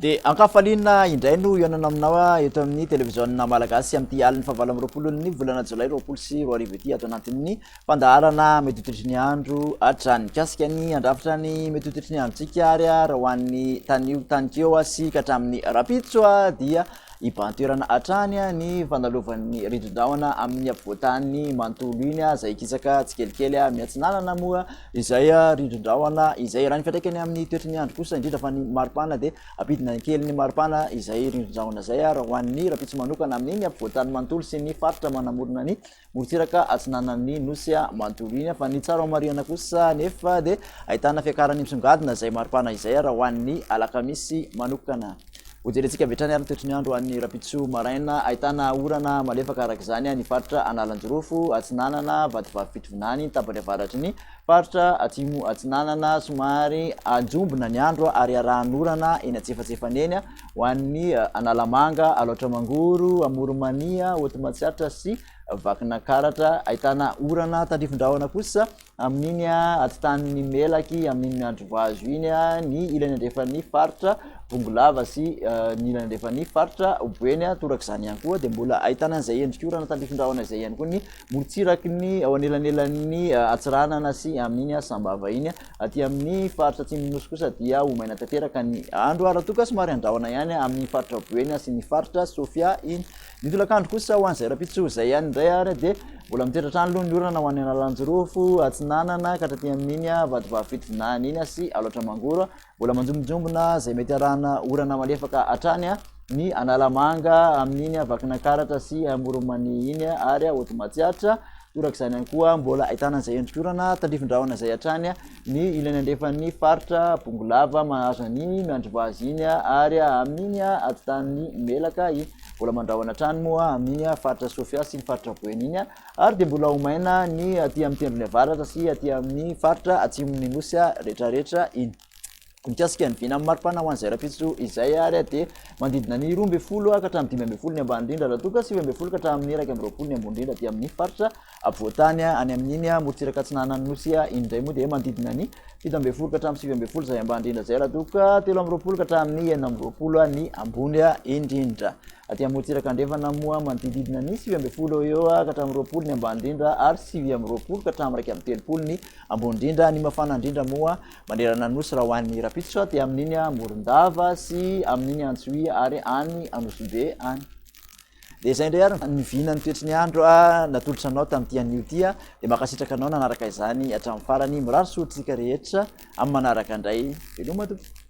Dia ankafaliana indray no hihaonana aminao ah, eto amin'ny televiziona malagasy amin'ity alin'ny fahavalo amby roapolon'ny volana jolay roapolo sy roa arivo ity ato anatin'ny Fandaharana mitoitotry ny andro hatrany. Mikasika ny handrafitra ny mitoitotry ny androntsika ary raha ho an'ny tanio tanikeo sy ka hatramin'ny rahampitso dia hibahan-toerana hatrany ny fanalovan'ny ririndrahona amin'ny afovoan-tany manontolo iny izay hikisaka tsikelikely miantsinanana moa izay ririndrahona izay. Raha ny fiantraikany amin'ny toetry ny andro kosa indrindra fa ny maripana dia hampidina ny kelin'ny maripana izay ririndrahona izay raha ho an'ny rahampitso manokana amin'ny afovoan-tany manontolo sy ny faritra manamorona ny morontsiraka atsinanan'ny nosy Mantoligna, fa ny tsara homarihana kosa anefa dia ahitana fiakaran'ny misongadina izay maripana izay ary ho an'ny alakamisy manokana. Hojerentsika avy hatrany ary ny toetry ny andro ho an'ny rahampitso maraina, ahitana orana malefaka araka izany ny faritra Analanjirofo atsinanana, Vatovavy Fitovinany ny tapany avaratry ny faritra Atsimo atsinanana, somary anjombona ny andro ary iarahan'orana eny antsefatsefany eny. Ho an'ny Analamanga, Alaotra-Mangoro, Amoronmania, Hoti-Matsiatra sy Vakinankaratra, ahitana orana tandrifin-drahona kosa amin'iny atitanin'ny Melaky amin'iny miandry vazo iny ny ilany andrefan'ny faritra Bongolava sy ny ilany andrefan'ny faritra Boeny. Torak'izany ihany koa dia mbola ahitana an'izay endrik'orana tandrifin-drahona izay ihany koa ny morontsiraky ny ao anelanelan'ny Antsiranana sy amin'iny Sambava iny. Aty amin'ny faritra atsimon'ny Nosy kosa dia ho maina tanteraka ny andro ary raha toa ka somary handrahona ihany amin'ny faritra Boeny sy ny faritra Sofia iny. Ny tolakandro kosa ho an'izay rahampitso izay ihany indray ary dia mbola mitoetra hatrany aloha ny orana ho an'ny Analanjirofo atsinanana ka hatraty amin'iny Vatovavy Fitovinany iny sy Alaotra Mangoro. Mbola manjombonjombona izay mety harahana orana malefaka hatrany ny Analamanga amin'iny Vakinankaratra sy Amoronmania iny ary Hotomatsiatra. Torak'izany ihany koa, mbola ahitana izay endriky orana, tandrifin-drahona izay hatrany ny ilany andrefan'ny faritra Bongolava mahazo an'iny miandry vaza iny ary amin'iny atidanin'i Melaka iny. Mbola mandrahona hatrany moa amin'iny faritra Sofia sy ny faritra Boeny iny ary dia mbola ho maina ny aty amin'ny tendrony avaratra sy aty amin'ny faritra atsimon'ny Nosy rehetrarehetra iny. Mikasika ny vinan'ny maripana ho an'izay rahampitso izay ary dia manodidina ny roa ambin'ny folo ka hatramin'ny dimy ambin'ny folo ny ambany indrindra raha toa ka sivy ambin'ny folo ka hatramin'ny iraika amby roapolo ny ambony indrindra aty amin'ny faritra afovoan-tany any amin'iny morontsiraka atsinanan'ny nosy indray moa dia manodidina ny fito ambin'ny folo ka hatramin'ny sivy ambin'ny folo izay ambany indrindra izay raha toa ka telo amby roapolo ka hatramin'ny enina amby roapolo ny ambony indrindra aty amin'ny morontsiraka andrefana moa manodididina ny sivy ambin'ny folo eo ka hatramin'ny roapolo ny ambany indrindra ary sivy amby roapolo ka hatramin'ny iraika amby telopolo ny ambony indrindra ny mafana indrindra moa Manerana ny Nosy raha ho any Rapisotra dia amin'iny Morondava sy amin'iny Antsohihy ary any Anosibe any. Dia izay indray ary ny vina ny toetry ny andro natolotra anao tamin'ity anio ity dia mankasitraka anao nanaraka izany hatramin'ny farany. Mirary soa antsika rehetra amin'ny manaraka indray. Veloma tompoko.